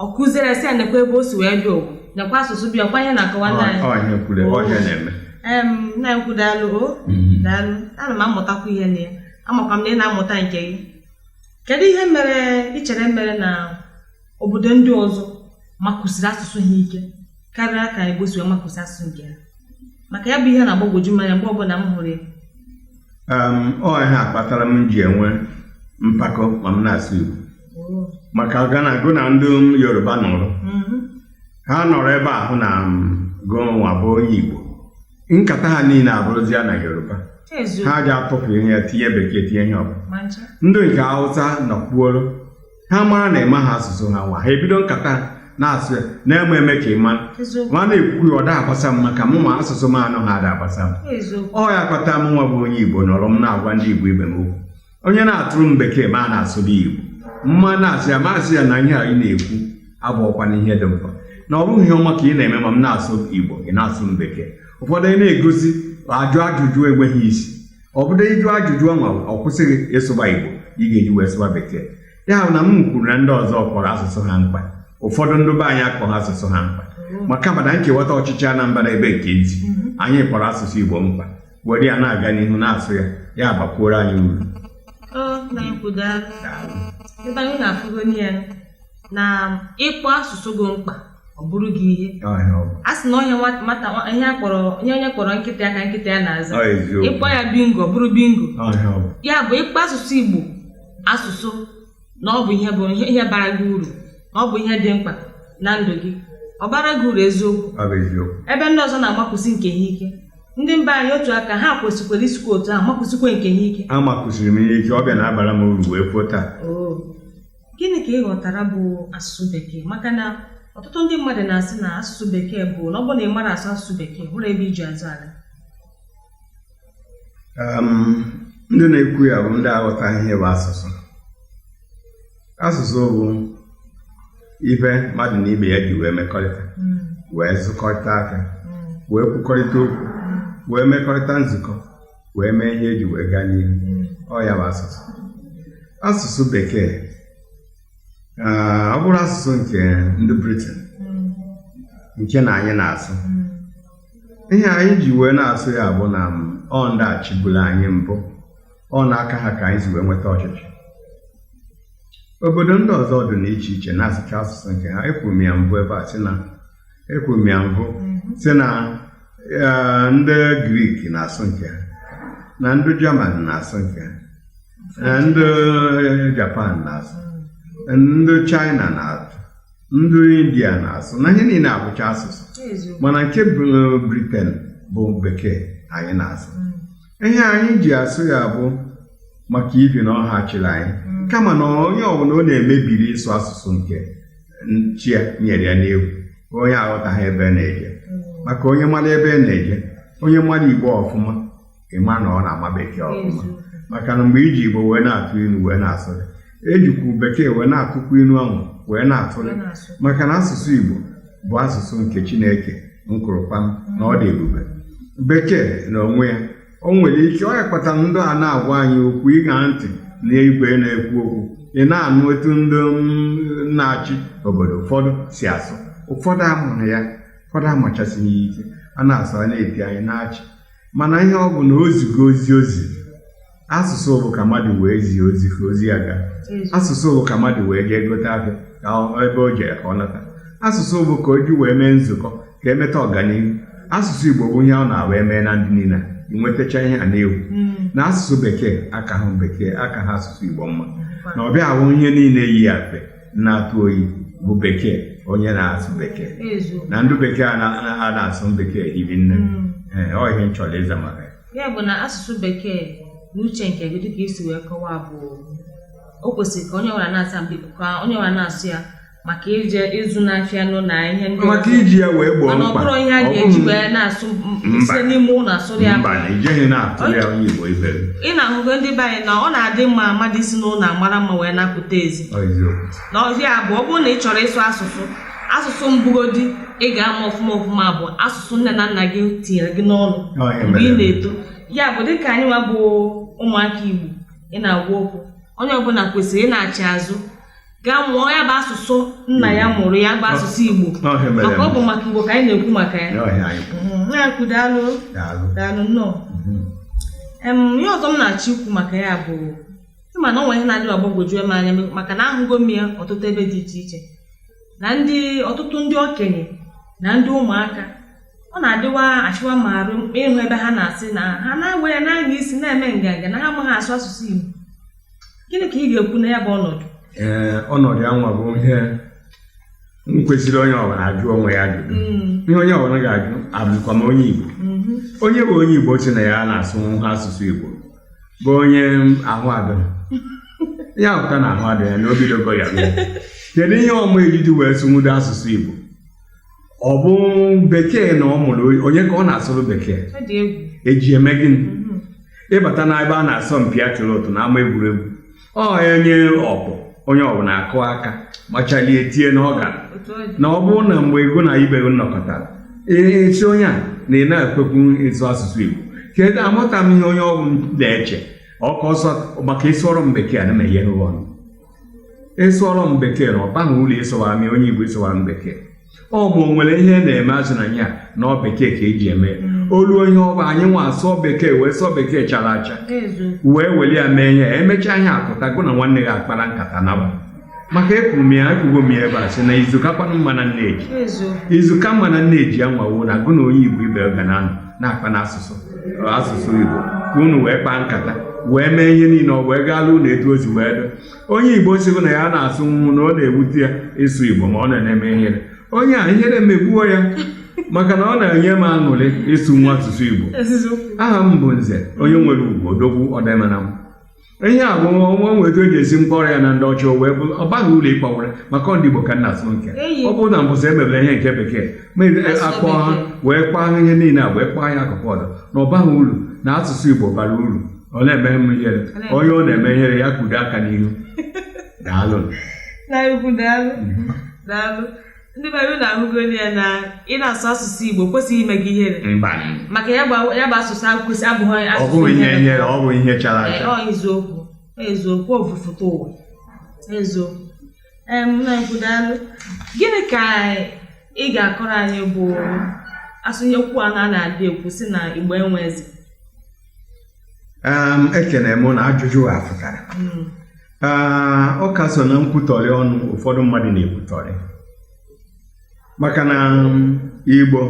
ọ kụziere sị ya nekwa ebe o si wee bịa ogwu nekwa asụsụ be ya ọ kwa ihe na-akọwa ndị anyị Ọ- ọhịa kwuru Oh. ọhịa na-eme em nna ekwu daalụ o Mhm. daalụ ana m amụtakwa ihe na ya amakwa m na ị na-amụta nke gị kedu ihe mere ị chere mere na obodo ndị ọzọ makwụsiri asụsụ ha ike karịa ka Igbo si wee makwụsi asụsụ nke ha maka ya bụ ihe na-agbagwoju m anya mgbe ọbụla m hụrụ ya ọ ihe a kpatara m ji enwe mpako ma m na-asụ Igbo oh. maka ga na gụ na ndị Yoruba nọrọ mm-hmm. ha nọrọ ebe ahụ na gụ nwa bụ onye Igbo nkata ha niile abụrụzia na Yoruba ha ji atụpụ ihe ya tinye bekee tinye ihe ọbụla ndị nke Hausa nọkwuoro ha mara na ị maha asụsụ ha nwa ha ebido nkata na-asụ ya na-eme eme ka ị ma eziokwu ma a na-ekwu ya ọ da agbasa m maka mụwa asụsụ m anụha ada agbasa m eziokwu ọ ya kpata mụnwa bụ onye igbo nọrọ m na-agwa ndị igbo ibe m okwu onye na-asụrụ m bekee m a na-asụrụ ya igbo m a na-asị ya m asị ya na ihe a ị na-ekwu abụọkwana ihe dị mkpa na ọ bụghị ihe ọma ka ị na-eme ma m na-asụ igbo ị na-asụ m bekee ụfọdụ ị na-egosi ajụ ajụjụ enweghị isi ọ bụrụ ịjụ ajụjụ ọnwa ọ kwụsịghị ịsụba Igbo ị ga-eji wee sụba bekee ya bụ na m kwuru na ndị ọzọ kpọrọ asụsụ ha mkpa ụfọdụ ndị be anyị akpọrọ asụsụ ha mkpa mm-hmm. maka mana nkewata ọchịchị Anambra ebe nke ntị mm-hmm. anyị kpọrọ asụsụ Igbo mkpa were ya na-aga n'ihu na-asụ ya ya abakwuoro anyị uru ebe anyị na-afụgo na ịkpọ asụsụ gị mkpa ọ bụrụ gị ihe a sị na onye nwata onye akpọrọ onye onye kpọrọ nkịta ya ka nkịta ya na-aza ị kpọọ ya bingo ọ bụrụ bingo ya bụ ị kpọọ asụsụ Igbo asụsụ na ọ bụ ihe bụ ihe bara gị uru na ọ bụ ihe dị mkpa na ndụ gị ọ baara gị uru eziokwu ebe ndị ọzọ na-amakwụsị nke ha ike ndị mba anyị otu a ka ha kwesịkwara isikwa otu ahụ makwụsịkwa nke ha ike amakwụsiri m ihe ike ọ bịa na-abara m uru wee pụọ taa oh. gịnị ka ị ghọtara bụ asụsụ bekee maka na ọtụtụ ndị mmadụ na-asị na asụsụ bekee bụ na ọ bụ na ị mara asụ asụsụ bekee hụrụ ebe e ji azụ ala ndị na-ekwu ya bụ ndị aghọtaghị ihe bụ asụsụ asụsụ bụ ihe mmadụ na ibe ya ji wee mekọrịta hmm. wee zụkọrịta ahịa hmm. wee kwukọrịta okwu hmm. wee mekọrịta nzukọ wee mee ihe e ji wee gaa n'ihu ọ ya bụ asụsụ asụsụ bekee ọ bụrụ asụsụ nke ndị briten nke na anyị na-asụ ihe anyị ji wee na-asụ ya bụ na ọ ndị a chịbulu anyị mbụ ọ n'aka ha ka anyị si wee nweta ọchịchị obodo ndị ọzọ dị n'iche iche na-asụcha asụsụ nke ha ekwuru m ya mbụ ebe a sị na ekwuru m ya mbụ sị na eh, ndị grik na-asụ nke ha na ndị jaman na-asụ nke ha eh, ndị japan na-asụ ndị chaịna na-asụ ndị india na-asụ na ihe niile abụcha asụsụ eziokwu mana nke bụ- briten bụ bekee anyị na-asụ ihe anyị ji asụ ya bụ maka ihi na ọ ha chịrị anyị kama na onye ọbụla ọ na-eme ihere ịsụ asụsụ nke chi ya nyere ya n'efu onye aghọtaghị ebe ọ na-eje maka onye mara ebe ọ na-eje onye mara igbo ọfụma ị ma na ọ na-ama bekee ọfụma maka na mgbe e ji igbo wee na-atụ ilu wee na-asụrị e jikwu bekee wee na-atụkwu ilu ahụ wee na-atụrị maka na asụsụ igbo bụ asụsụ nke chineke m kwuru kpam na ọ dị ebube bekee na onwe ya o nwere ike ọ ya kpatara ndị a na-agwa anyị okwu ị ṅaa ntị na igwe na-ekwu okwu ị na-anụ etu ndị na-achị obodo ụfọdụ si asụ ụfọdụ amụrụ ya ụfọdụ amachasịghị ya ike a na-asụ a na-eti anyị na-achị mana ihe ọ bụ na o zigo ozi ozi asụsụ bụ ka mmadụ wee zie ozi ka ozi ya gaa asụsụ bụ ka mmadụ wee jee gote ahịa ka ebe o jere ka ọ nata asụsụ bụ ka o ji wee mee nzukọ ka e meta ọganihu asụsụ igbo bụ ihe ọ na-abụ e mee na ndị niile nwetacha ihe a na-ekwu mm. na asụsụ bekee akaghị bekee akaghị asụsụ igbo mma na ọbịa ahụ ihe niile yi afe na-atụ oyi bụ bekee onye na-asụ bekee na ndị bekee a na-asụ bekee hiri nne mm. eh, ọ ihe m chọrọ ịza maka ya bụ na asụsụ bekee na uche nke gị dịka i si wee kọwaa bụ o kwesịrị ka onye nwere na-asa ka onye nwere na-asụ ya maka ije ịzụ n'afịa nụ na ihe ndị maka iji ya wee gboo mkpa ọ ihe a ga-eji wee na-asụ site n'ime ụlọ asụrụ ya mba na ijeghị na-asụrụ ya onye Igbo ibe ị na-ahụgo ndị be anyị na ọ na-adị mma mmadụ isi n'ụlọ amara mma wee na-apụta ezi na ọ ya bụ ọ bụrụ na ị chọrọ ịsụ asụsụ asụsụ mbụ godi ị ga-ama ọfụma ọfụma bụ asụsụ nne na nna gị tinyere gị n'ọnụ mgbe ị na-eto ya bụ dịka anyị nwa bụ ụmụaka Igbo ị na-agwa okwu onye ọbụla kwesịrị ịnaghachi azụ gaa mụọ ya bụ asụsụ nna ya mụrụ ya bụ asụsụ Igbo na ọ ya mere maka ọ bụ maka Igbo ka anyị na-ekwu maka ya na ọ ihe anyị bụ. Mhm, na-ekwu daalụ Daalụ. daalụ nnọọ Mhm. Em, ihe ọzọ m na-achọ ikwu maka ya bụ ị ma na ọ nwere ihe na-adị agbagwoju m anya maka na ahụgo m ya ọtụtụ ebe dị iche iche na ndị ọtụtụ ndị okenye na ndị ụmụaka ọ na-adịwa achịwa m arụ ịhụ ebe ha na-asị na ha na-ewe ya na-anya isi na-eme nganga na ha amaghị asụ asụsụ Igbo gịnị ka ị ga-ekwu na ya bụ ọnọdụ ee ọnọdụ ya nwa bụ ihe nkwesịrị onye ọbụla ajụ onwe ya ajụjụ Mm, ihe onye ọbụla ga-ajụ abụkwa m onye igbo mhm, onye bụ onye igbo sị na ya na-asụhọ asụsụ igbo bụ onye ahụ adịhọ ya pụta na ahụ adịhọ ya na o bidogo ya bịa. kedu ihe ọ ma eji wee sụnwudo asụsụ igbo ọ bụ bekee na ọ mụrụ onye ka ọ na-asụrụ bekee eji eme gịnị mhm. ịbata na ebe a na-asọ mpi atụlụ ụtụ na ama egwuregwu ọ onye ọbụ onye ọbụna akụ aka machalie tie na ọ gara na ọ bụrụ na mgbe ikwu na ibe nnọkọtara a sị onye a na ị na-ekwekwu ịsụ asụsụ Igbo kedu amụta m ihe onye ọbụna eche ọka ọsọ maka ịsụọrọ m bekee na meghe ọnụ ịsụọrọ m bekee na ọ baghị uru ị sụwara mị onye igbo ị sụwara m bekee ọ bụ nwere ihe na-eme azụ na ya na ọ bekee ka eji eme mm. o luo ihe ọ bụ anyị nwa asụọ bekee wee sụọ bekee chara acha wee weli ya mee ihe emechaa ihe apụta gụ na nwanne gị akpara nkata naba maka ekwuru m ya ekwugo m ya ebe a sị na izu ka kwanụ mma na nneji izu ka mma na nneji ya nwa wụ na gụ na onye igbo ibe ga na na-akpa n'asụsụ asụsụ Igbo ka unu wee kpaa nkata wee mee ihe niile ọ wee gaala unu etu o si wee dị onye Igbo sịgo na ya na-asụnwu na ọ na-ewute ya ịsụ Igbo ma ọ na-eme ihere onye a ihere megbuo ya maka na ọ na-enye m aṅụrị ịsụ nwa asụsụ Igbo aha m bụ Nze onye nwere ugwu odogwu ọdịmana m ihe a bụ nwa nwe etu eji esi m kpọrọ ya na ndị ọcha o wee bụrụ ọ baghị uru ịkpọwara maka ọ ndị Igbo ka m na-asụ nke Eyi. ọ bụrụ na mbọsị emebere ihe nke bekee ma ebe- Asụsụ akpọ ha bekee. wee kpaa ha ihe niile a wee kpaa ya akụkụ ọzọ na ọ baghị uru na asụsụ Igbo bara uru ọ na-eme m ihere na-eme- onye ọ na-eme ihere ya kudo aka n'ihu daalụ nnukwu daalụ daalụ ndị be anyị unu ahụgo nụ ya na ị na-asụ asụsụ Igbo kwesịghị ime gị ihere mba maka ya bụ ya bụ asụsụ ahụ kwesị abụghị ọ asụsụ bụghị ihe ihere ọ bụ ihe chara Ee, acha ọ eziokwu ọ eziokwu o bu fụta ụwa eziokwu ee m na-ekwu daalụ gịnị ka ị ga-akọrọ anyị gbasara ihe okwu a na-adị ekwu sị na Igbo enwe eze um, ekene m na ajụjụ a pụtara mm. ah, ọ ka so na nkwutọrị ọnụ ụfọdụ mmadụ na-ekwutọrị maka na um, igbo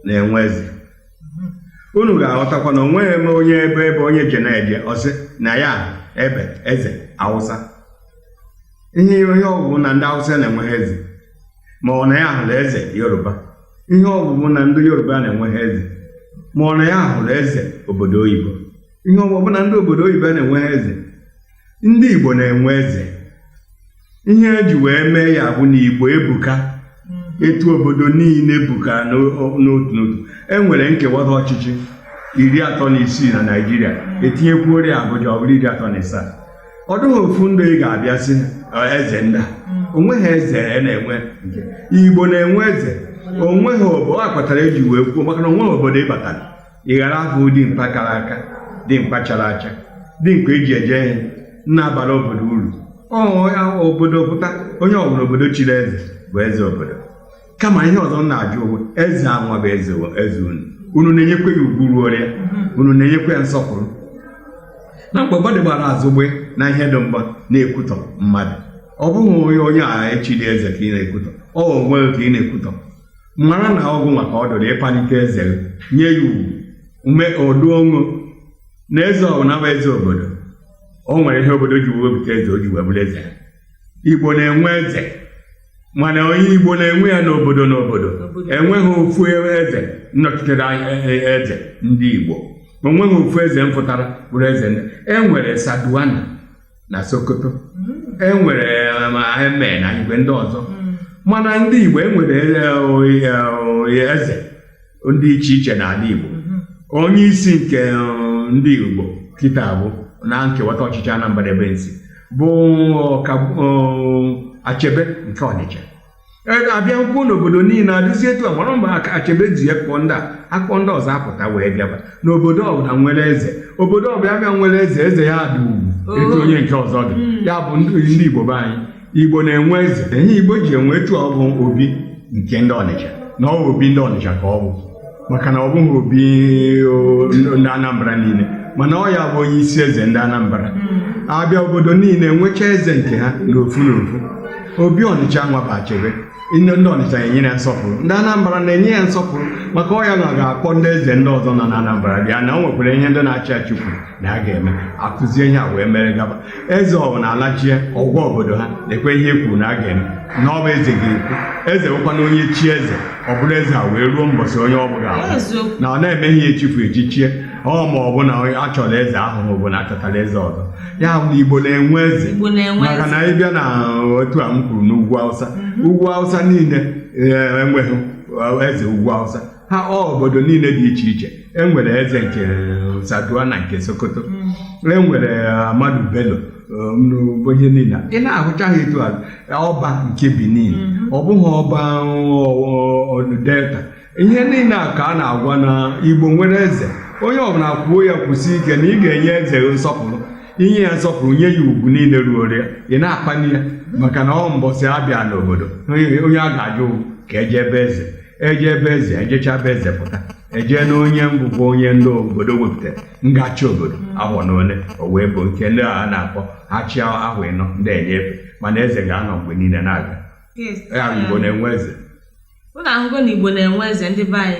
na-enwe eze mm-hmm. unu ga-aghọtakwa na onweghị m onye ebe ebe onye je na-eje ọ sị na ya ebe eze Awụsa ihe ihe ọ bụ bụ na ndị Awụsa na-enweghị eze ma ọ na ya hụrụ eze Yoruba ihe ọ bụ bụ na ndị Yoruba na-enweghị eze ma ọ na ya hụrụ eze obodo oyibo ihe ọ bụ bụ na ndị obodo oyibo na-enweghị eze ndị Igbo na-enwe eze ihe eji wee mee ya bụ na Igbo ebuka etu obodo niile buka n'otu n'otu enwere nkewata ọchịchị iri atọ na isii na Naịjirịa etinyekwuoro Abuja ọ bụrụ iri atọ na ịsaa ọ dịghị ofu ndị ị ga-abịa sị eze ndị onweghị eze e na-enwe igbo na-enwe eze onweghị obodo a kpatara eji wee kwuo maka na onweghị obodo ị batara ị ghara afụ dimkpa kara aka dimkpa chara acha dimkpa eji eje ihe na-abara obodo uru obodo pụta onye ọbụla obodo chiri eze bụ eze obodo kama ihe ọzọ m na-ajụ unu eze anwa bụ eze wa- eze unu unu na-enyekwa ya ugwu ruoro ya unu na-enyekwa ya nsọpụrụ na mgbe mmadụ gbara azụgbe na ihe dị mgba na-ekwutọ mmadụ ọ bụghị onye onye a echiri eze ka ị na-ekwutọ ọ onwe gị ka ị na-ekwutọ mara na ọ gị nwa ka ọ dịrị ịpalite eze gị nye ya ugwu ume ọdụ ọṅụ na eze ọbụla bụ eze obodo o nwere ihe obodo ji wepụta eze o ji wee bụrụ eze igbo na-enwe eze mana onye Igbo na-enwe ya n'obodo n'obodo enweghị ofu eze nnọchitere e, e, eze ndị Igbo enweghị ofu eze mpụtara bụrụ eze enwere Sardauna na Sokoto hmm. enwere um, Emir na igwe ndị ọzọ hmm. mana ndị Igbo enwere e, eze ndị iche iche n'ala Igbo mhm. onye isi nke uh, ndị Igbo kịta bụ na nkewata ọchịchị Anambra ebe m si bụ uh, Achebe nke Ọnịcha e, abịakwuo n'obodo niile adịzi etu a mara mgbe Achebe ji ya kpọọ ndị a akpọ ndị ọzọ apụta wee bịaba n'obodo ọbụla nwere eze obodo ọbụla bịa nwere eze eze ya dị ugwu etu oh. onye nke ọzọ dị hmm. ya bụ ndị Igbo be anyị igbo na-enwe eze ihe igbo ji enwe etu ọ bụ obi nke ndị ọnịcha na ọ bụ obi ndị ọnịcha ka ọ bụ maka na ọ bụghị obi o, ndị anambra niile mana ọ ya bụ onye isi eze ndị anambra abịa obodo niile nwechaa eze nke ha n'ofu n'ofu obi ọnịcha nwa bụ achebe ndị ọnịcha na-enye ya nsọpụrụ ndị anambra na-enye ya nsọpụrụ maka ọ ya nwa ga-akpọ ndị eze ndị ọzọ nọ na anambra bịa na o nwekwara ihe ndị na-achị achị kwuru na a ga-eme akụzie ihe a wee mere gaba eze ọbụla alachie ọ gwa obodo ha nekwe ihe e kwuru na a ga-eme na ọ bụ eze ga-ekwu eze bụkwanụ onye chie eze ọ bụrụ eze a wee ruo mbọsị onye ọ bụ ga-anwụ na a na-emeghị echifu echichie ọ ma ọ bụ na a chọrọ eze ahụ ọ bụ na achọtara eze ọzọ ya bụ na igbo na-enwe eze maka na ị bịa na otu a m kwuru n'ugwu awụsa mhm. ugwu awụsa niile eh, enweghị eh, eze ugwu awụsa ha obodo niile dị iche iche enwere eze nke Sardauna nke Sokoto mm. enwere uh, Amadu Bello um, ihe niile ị na-ahụcha ha etu ọba nke Benin mm-hmm. ọ bụghị ọba uh, Delta ihe niile a ka a na-agwa na Igbo nwere eze onye ọbụla kwuo ya kwusie ike na ị ga-enye eze nsọpụrụ inye ya nsọpụrụ nye ya ugwu niile ruoro ya ị na-akpali ya maka na ọ mbọsị abịa n'obodo onye a ga-ajụ ka eje ebe eze eje ebe eze ejecha be eze pụta ejee na onye ngwụgwọ onye ndị obodo wepụtara ga-achị obodo ahụ na ole o wee bụ nke ndị a na-akpọ ha chịa ahọ ịnọ ndị enyefee mana eze ga-anọ mgbe niile na-aga Yes. ya bụ igbo na-enwe eze Unu ahụgo na Igbo na-enwe eze ndị be anyị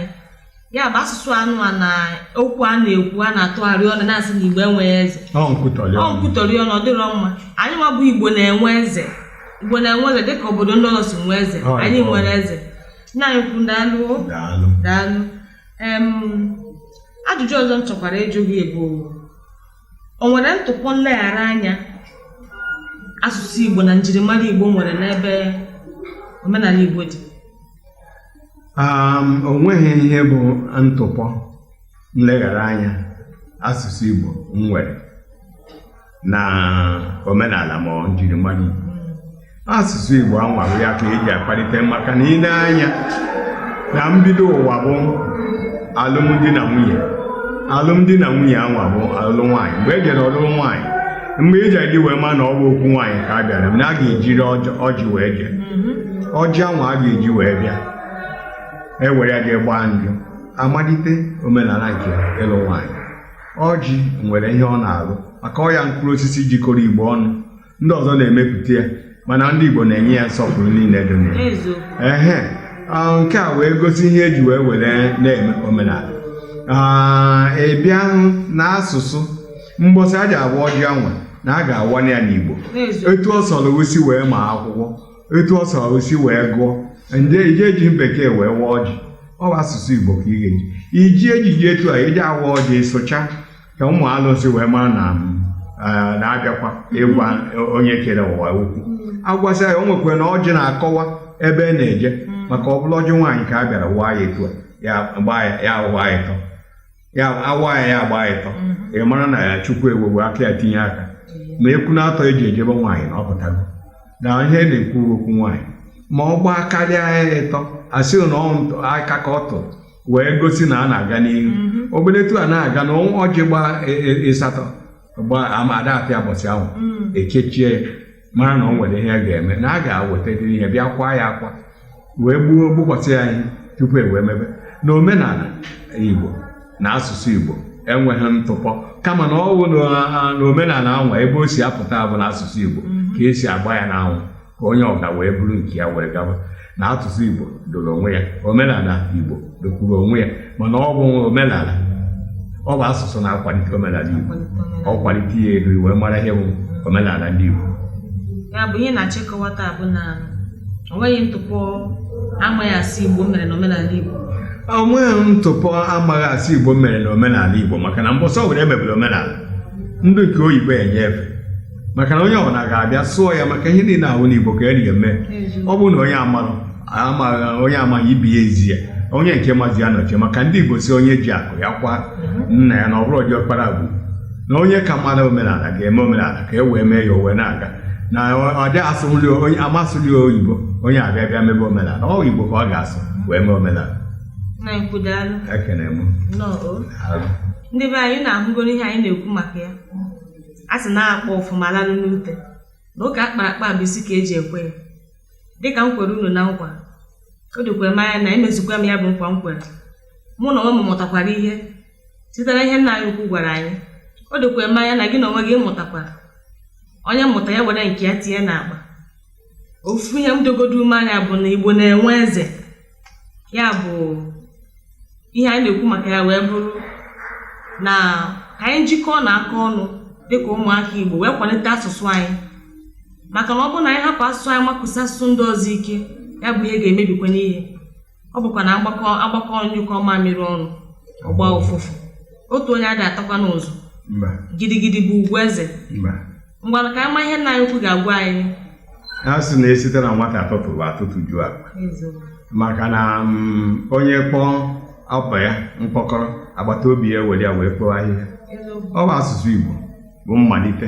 ya bụ asụsụ anụ a na okwu a na-ekwu a na-atụgharị ọnụ na-asị na Igbo enweghị eze ọ nkwutọrị ọnụ. nkwutọrị ọnụ ọ dịrọ mma anyị nwa bụ Igbo na-enwe eze Igbo na-enwe eze dịka obodo ndị ọzọ si nwee eze Ọ, anyị ọ. nwere eze nna anyị ukwu daalụ o. daalụ daalụ em ajụjụ ọzọ m chọkwara ịjụ gị bụ o nwere ntụpọ nleghara anya asụsụ igbo na njirimara igbo nwere n'ebe omenala igbo dị Um, o nweghị ihe bụ ntụpọ nleghara anya asụsụ Igbo nwere na omenala ma njirimara Igbo asụsụ Igbo anwa ọ ya ka eji akpalite maka na ị nee anya na mbido ụwa bụ alụmdi na nwunye alụmdi na nwunye anwa bụ alụ nwaanyị mgbe e jere ọlụlụ nwaanyị mgbe ị ji wee ma na ọ bụ okwu nwaanyị ka a bịara na a ga-ejiri ọjị- ọjị wee jee ọjị anwa a ga-eji wee bịa e were ya jee gbaa njụ amalite omenala nke ịlụ nwaanyị ọjị nwere ihe ọ na-alụ maka ọ ya mkpụrụ osisi jikọrọ igbo ọnụ ndị ọzọ na-emepụta ya mana ndị igbo na-enye ya nsọpụrụ niile dị na ya eziokwu ehe ah, nke a wee gosi ihe eji wee were na-eme omenala Ah, ị bịa hụ na asụsụ mbọsị a ji awa ọjị anwa na a ga-awanye ya n'igbo eziokwu etu ọ sọrọ o si wee ma akwụkwọ etu ọ sọrọ o si wee gụọ adịghị eji bekee wee waa ọjị ọ bụ asụsụ igbo ka ị ga-eji iji ejiji etu a eji awa ọjị ịsụcha ka ụmụ alụsị wee mara na eh, na-abịakwa ịgwa onye kere ụwa okwu agwasị ya o nwekwara na ọjị na-akọwa ebe a na-eje maka ọ bụrụ ọjị nwaanyị ka a bịara waa ya etu a ya gbaa ya ya waa ya ịtọ ya awa ya ya agba ịtọ ị mara na ya chukwu ewego aka ya tinye aka ma ekwu na atọ eji ejebe nwaanyị na ọ pụtago na ihe na-ekwu okwu nwaanyị ma ọ gbaa karịa ya ịtọ asị na ọ ntụ- aka ka ọ tụrụ wee gosi na a na-aga n'ihu obere etu a na-aga na ọjị gbaa e- e- ịsatọ gbaa ama ada ata ya mbọsị ahụ e kechie ya mara na o nwere ihe ga-eme na a ga-awetadịrị ihe bịa kwaa ya akwa wee gbuo gbukwasị ya ihe tupu e wee mebe na omenala igbo na asụsụ igbo enweghị ntụpọ kama na ọwụ na omenala anwa ebe o si apụta bụ na asụsụ igbo ka esi agba ya n'anwụ ka onye ọga wee buru nke ya wee gaba na asụsụ Igbo doro onwe ya omenala Igbo dokwuru onwe ya mana ọ bụ omenala ọ bụ asụsụ na-akwalite omenala Igbo ọ kwalite ya elu e wee mara ihe bụ omenala ndị Igbo ya bụ ihe na-achịkọwa taa bụ na o nweghị ntụpọ amaghị asụ Igbo mere na omenala Igbo o nweghị ntụpọ amaghị asụ Igbo mere na omenala Igbo maka na mbọsị were emebere omenala ndị nke oyibo enye efe maka na onye ọbụla ga-abịa sụọ ya maka ihe niile ahụ n'igbo ka eri eme ọ bụrụ na onye amarụ amaghị onye amaghị ibe ya ezi ya onye nke mazi ya nọchie maka ndị igbo sị onye ji akụ ya kwaa nna ya na ọ bụrọ diọkpara bụ na onye ka mara omenala ga-eme omenala ka e wee mee ya o wee na-aga na ọ dị asụli onye ama asụli oyibo onye abịa bịa mebe omenala ọ igbo ka ọ ga-asụ wee mee omenala na nkwudalụ ekene m nnọọ o. Daalụ. ndị be anyị unu ahụgoro ihe anyị na-ekwu maka ya a sị na a kpaa ọfụma a lalụ n'ute na ụka a kpara akpa bụ isi ka eji ekwe ya dịka m kwere unu na nkwa o dokwere m anya na emezukwa m ya bụ nkwa m kwere mụ na onwe m mụtakwara ihe site na ihe nna anyị ukwu gwara anyị o dokwere m anya na gị na onwe gị mụtakwara onye mụta ya were nke ya tinye n'akpa ofu ihe m dogodo ume anya bụ na Igbo na-enwe eze ya bụ ihe anyị na-ekwu maka ya wee bụrụ na ka anyị jikọọnụ aka ọnụ dịka ụmụaka Igbo wee kwalite asụsụ anyị maka na ọ bụrụ na anyị hapụ asụsụ anyị makụsi asụsụ ndị ọzọ ike ya bụ ihe ga-emebikwanụ ihe ọ bụkwa na agbakọọ nyụkọọ mamịrị ọnụ ọ gbaa ụfụfụ otu onye adị atakwa n'ụzọ mba gidigidi bụ ugwu eze mba ngwa ka anyị ma ihe nna anyị ukwu ga-agwa anyị a sị na esite na nwata atụtụ bụ atụtụ ju akpa maka na mm, onye kpọọ ọkwa ya mkpọkọrọ agbata obi ya were ya wee kpoo ahịhịa ọ bụ asụsụ Igbo bụ mmalite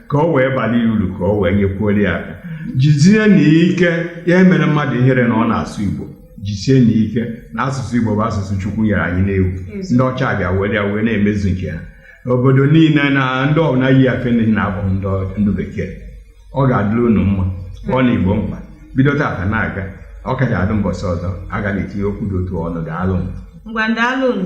ka o wee bala ya uru ka o wee nyekwuoro ya aka jizie na ike ya emene mmadụ ihere na ọ na-asụ igbo jisie na ike na asụsụ igbo bụ asụsụ chukwu nyere anyị na-ewu ndị ọcha bịa were ya wee na-emezu nke ha obodo niile na ndị ọbụla yi afe na-abụ ndị ọ- ndị bekee ọ ga-adịrị unu mma ọ na igbo mkpa bido tata na-aga ọ ka ga-adị mbọsị ọzọ a ga na-etinye okwu dị otu a ọnụ daalụ m ngwa daalụnụ